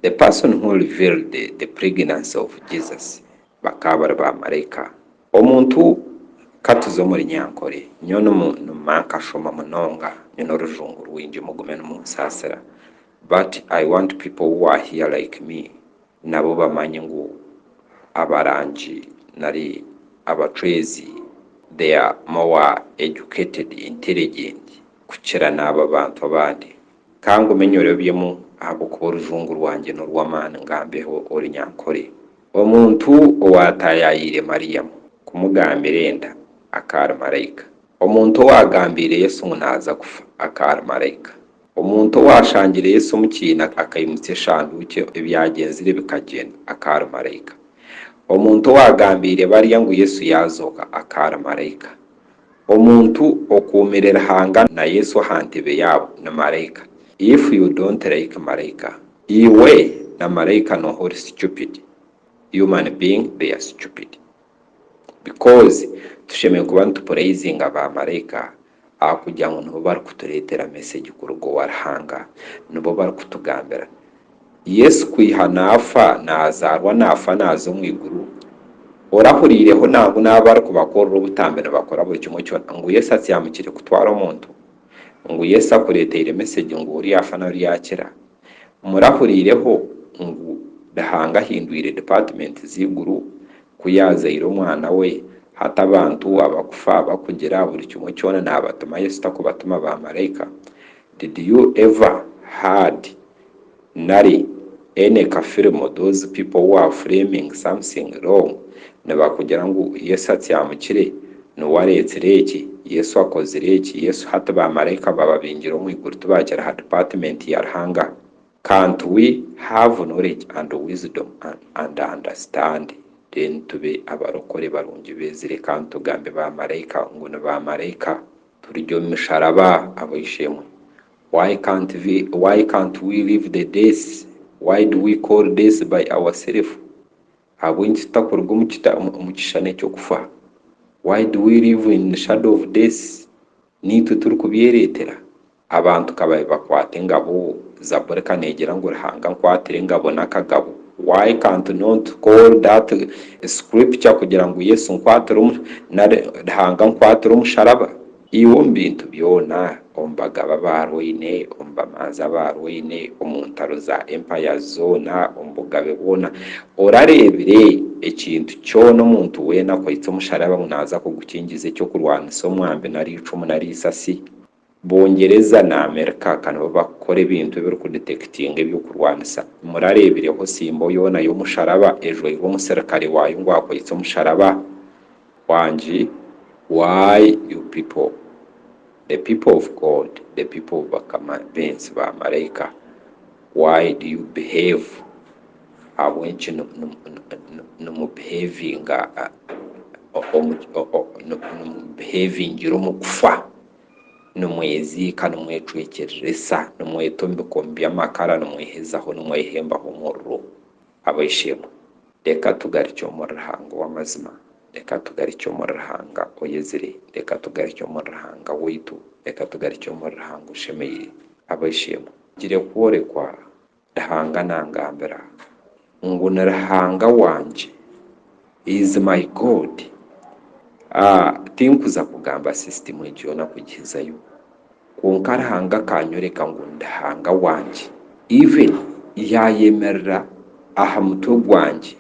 The person who revealed the pregnancy of Jesus bakaba bari ba maraika. Omuntu Ka tuze omuri nyankore nyowe nimu nima nkashoma munonga nyine orujungu rwingi mugume nimunsasira but I want people who are here like me nabo bamanye ngu abarangi nari abacwezi they are more educated intelligent kukira naabo abantu abandi Ka ngume nyorebyemu ahabw'okuba orujungu rwangye n'orw'amaani ngambeho ori nyankore. Omuntu owaataayaayire Mariamu kumugambira enda akaari maraika. Omuntu owaagambiire Yesu ngu naaza kufa akaari maraika. Omuntu owaashangire Yesu omu kiina akaimutsya eshanduukye ebyagyenzire bikagyenda akaari maraika. Omuntu owaagambiire barya ngu Yesu yaazooka akaari maraika. Omuntu okuumire Ruhanga na Yesu aha ntebe yaabo ni maraika. If you don't like maraika, iwe na maraika nooha ori stupid? Human being they are stupid. Because tushemereire kuba nitupureyizinga ba maraika ahakugira ngu nibo barikutureetera message kuruga owa Ruhanga. Nibo barikutugambira. Yesu kwiha naafa naazaarwa naafa naaza omu iguru, orahuriireho nangwa n'abo barikubakorera obutambi nibakora buri kimwe kyona ngu Yesu atsyamukire kutwara omuntu? Ngu Yesu akureeteire mesegi ngu oriya afa nari yaakira? Murahuriireho ngu Ruhanga ahindwire dipaatimenti z'eiguru ku yaazaire omwana we? Hati abantu abakufa, abakugira, buri kimwe kyona naabatuma Yesu takubatuma baamaraika. Did you ever heard? nari any ka film those people who are flaming something wrong nibakugira ngu Yesu atsyamukire, niwe areetsire eki, Yesu akozire eki, Yesu hati ba maraika baba baingire omu iguru tibakira ha department ya Ruhanga. Can't we have knowledge and wisdom and understand then tube abarokore barungi bezi reka nitugambe ba maraika ngu ni ba maraika turye omu misharaba abo ishemwe Why can't we why can't we leave the days why do we call days by our self ahabw'enki tutakuruga omu kita omu kishushani eky'okufa why do we live in the shadow of days n'itwe turi kubyeretera abantu ka babe bakwata engabo zaburi ka negira ngu ruhanga nkwatira engabo n'akagabo why can't not call that scripture kugira ngu yesu nkwatira omu nari ruhanga nkwatira omusharaba Iwe omu bintu byona, omu bagaba abaarwaine, omu bamanzi abaarwaine, omu ntaro za empaya zoona, omu bugabe bwona, orareebire ekintu kyona omuntu weena akwitse omusharaba ngu naaza kugukingiza eky'okurwanisa omwambi nari eicumu nari eisasi? Bungyereza na Amerika ka nibo bakukora ebintu ebirikudetekitinga eby'okurwanisa. Murareebireho simbo yoona y'omusharaba ejwairwe omusirikare waayo ngu akwitse omusharaba? Wangi why you people the people of God the people of bakama bensi ba maraika why do you behave ahabw'enki nimu behavinga behavingira omu kufa nimweziika nimwecwekyereresa nimweta omu bikomi by'amakara nimwehezaho nimwehembaho omuriro. Abaishe-emwe, reka tugarukye omuri Ruhanga ow'amazima, reka tugarukye omuri Ruhanga oyezire, reka tugarukye omuri Ruhanga waitu, reka tugarukye omuri Ruhanga oshemeire. Abaishe-emwe. Ngire kworekwa, Ruhanga nangambira ngu ni Ruhanga wangye He is my God aah Tinkuza kugamba system egi yoona kugihizayo Kwonka Ruhanga akanyoreka ngu ndi Ruhanga wangye Even yayemerera aha mutwe gwangye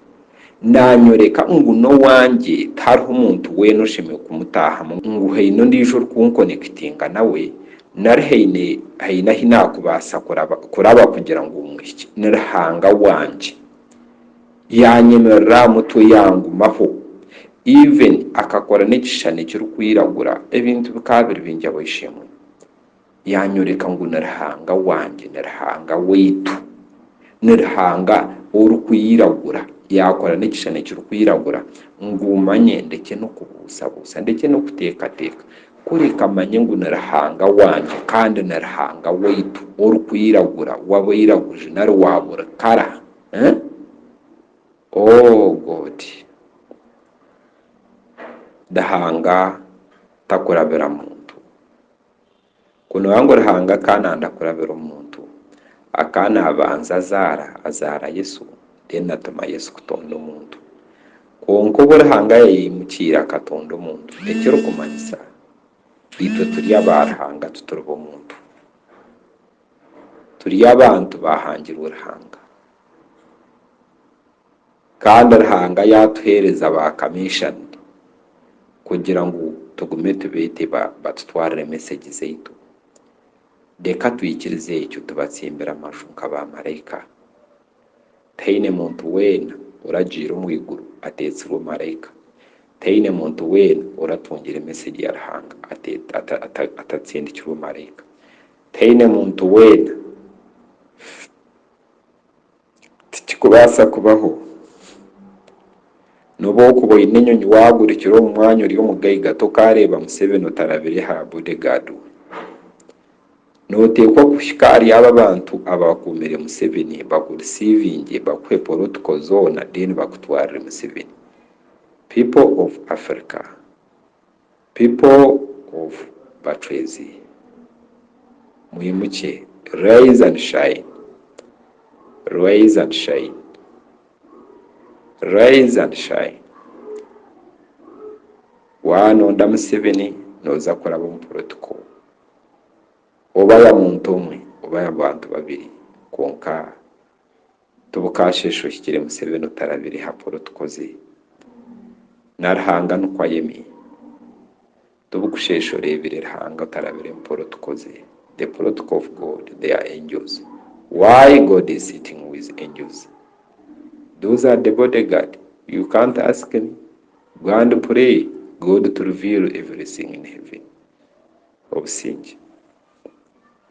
Nanyoreka ngu n'owangye tihariho omuntu weena oshemereire kumutaahamu ngu haine ondiijo orikunkonekitinga nawe nari haine haine ahi nakubaasa kuraba kuraba kugira ngu muhikye Ni Ruhanga wangye Yanyemerera aha mutwe yangumaho. Ivan akakora n'ekishushani ekirikwiragura, ebintu bikaba biri bingi aho ishemwe. Yanyoreka ngu ni Ruhanga wangye, ni Ruhanga waitu, ni Ruhanga orikwiragura. Yakora n'ekishushani ekirikwiragura ngu manye ndekye n'okubuusabuusa, ndekye n'okuteekateeka. Kureka manye ngu ni Ruhanga wangye kandi ni Ruhanga waitu orikwiragura, w'abairaguju nari wa buri kara. Eh? Oh God! Ruhanga takurabira muntu. Ku nooba ngu Ruhanga akaba nanda kurabira omuntu, akaba nabanza azaara, azaara Yesu, then atuma Yesu kutonda omuntu. Kwonka obu Ruhanga yayaimukiire akatonda omuntu, ekirikumanyisa, itwe turi aba Ruhanga tituri b'omuntu. turi abantu baahangirwe Ruhanga. Kandi Ruhanga yaatuheereza baakamishani kugira ngu tugume tubeete batutwarire mesegi zaitu. Reka twikirize ekyo tubatsimbire amaju nka baamaraika. Tihaine muntu weena oragiire omu iguru ateetsirwe maraika. Tihaine muntu weena oratungira mesegi ya Ruhanga atatsindikirwe maraika. Taine muntu weena. Tikikubaasa kubaho. Nobu okuba oine enyonyi wagurukira omu mwanya ori omugaiga tokareeba Museveni otarabire aha bodyguard we. Noteekwa kuhika ahari abo abantu abakuumire Museveni bakurisiivingye bakuhe protocol zoona then bakutwarire Museveni. People of Africa. People of Batwezi, mwimukye, rise and shine, rise and shine, rise and shine, wanonda Museveni noza kuraba omu politiko oba ya muntu omwe oba ya bantu babiri kwonka Tibukashesha ohikire museveni otarabire ha polo tukoze na ruhanga nukwo ayeme Tibukushesha orebire ruhanga otarabire mu polo tukoze The protocol of God they are angels Why God is sitting with angels Those are the body guard You can't ask me Go and pray God to reveal everything in heaven Obusingye.